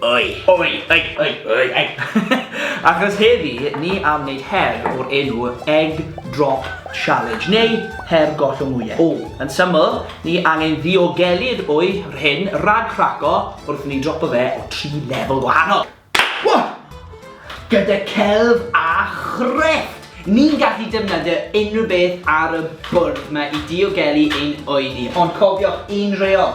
Oi! Oi! Oi! Oi! Oi! Oi! Achos heddi, ni am wneud her o'r enw Egg Drop Challenge, neu her gollwng wyau. O. Yn syml, ni angen ddiogelu'r wy rhyn rhag craco wrth ni dropo fe o tri lefel gwahanol. Wha! Gyda celf a chrefft, ni'n gallu defnyddio unrhyw beth ar y bwrdd ma i diogelu ein wy ni, ond cofiwch, un reol!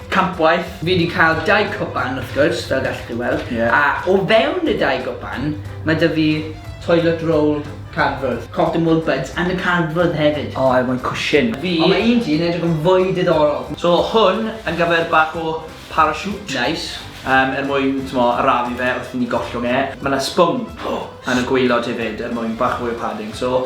Campwaith. Fi 'di cael dau cwpan wrth gwrs, fel gallwch chi weld. Ie. A o fewn y dau gwpan, mae 'da fi toilet roll cardfwrdd. Cotton wool buds yn y cardfwrdd hefyd. O, I want cushion. Fi. Ond mae un ti yn edrych yn fwy diddorol. So, hwn yn gyfer bach o parachute. Neis. Yym, er mwyn, t'mo', arafu fe wrth i ni gollwng e. Ma' 'na sbwng yn y gwaelod hefyd er mwyn bach fwy o padding, so.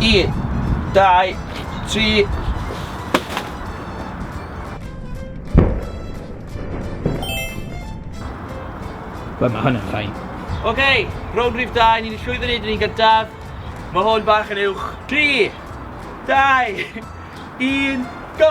Un, dau, tri. Wel, mae hwn yn ffain. Oce, okay, rown rhif 2, ni'n llwyddo wneud yn un gyntaf. Mae hwn bach yn uwch. 3, 2, 1, go!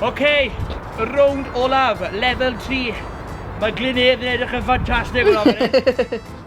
Okay, y rownd olaf, lefel 3. Mae Glyn Edd yn edrych yn ffantastig yn fan hyn.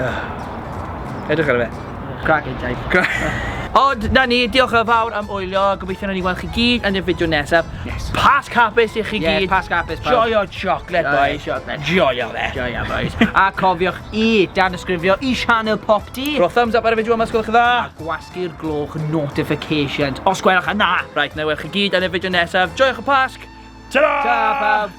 Uh, edrych ar y fe. Crack it, Jai. Crack. Ond, na ni, diolch yn fawr am oelio. Gobeithio na ni weld chi gyd yn y fideo nesaf. Yes. Pas capus i chi gyd. Yes, pas capus. Joio chocolate, boys. Chocolate. Joio fe. Joio, boys. A cofiwch i dan ysgrifio i Sianel Pop D. Rho thumbs up ar y fideo yma, sgwylwch chi dda. A gwasgu'r gloch notifications, os gwelwch yna. Right, na weld chi gyd yn y fideo nesaf. Joiwch y pasg. Ta-ra! Ta, pawb.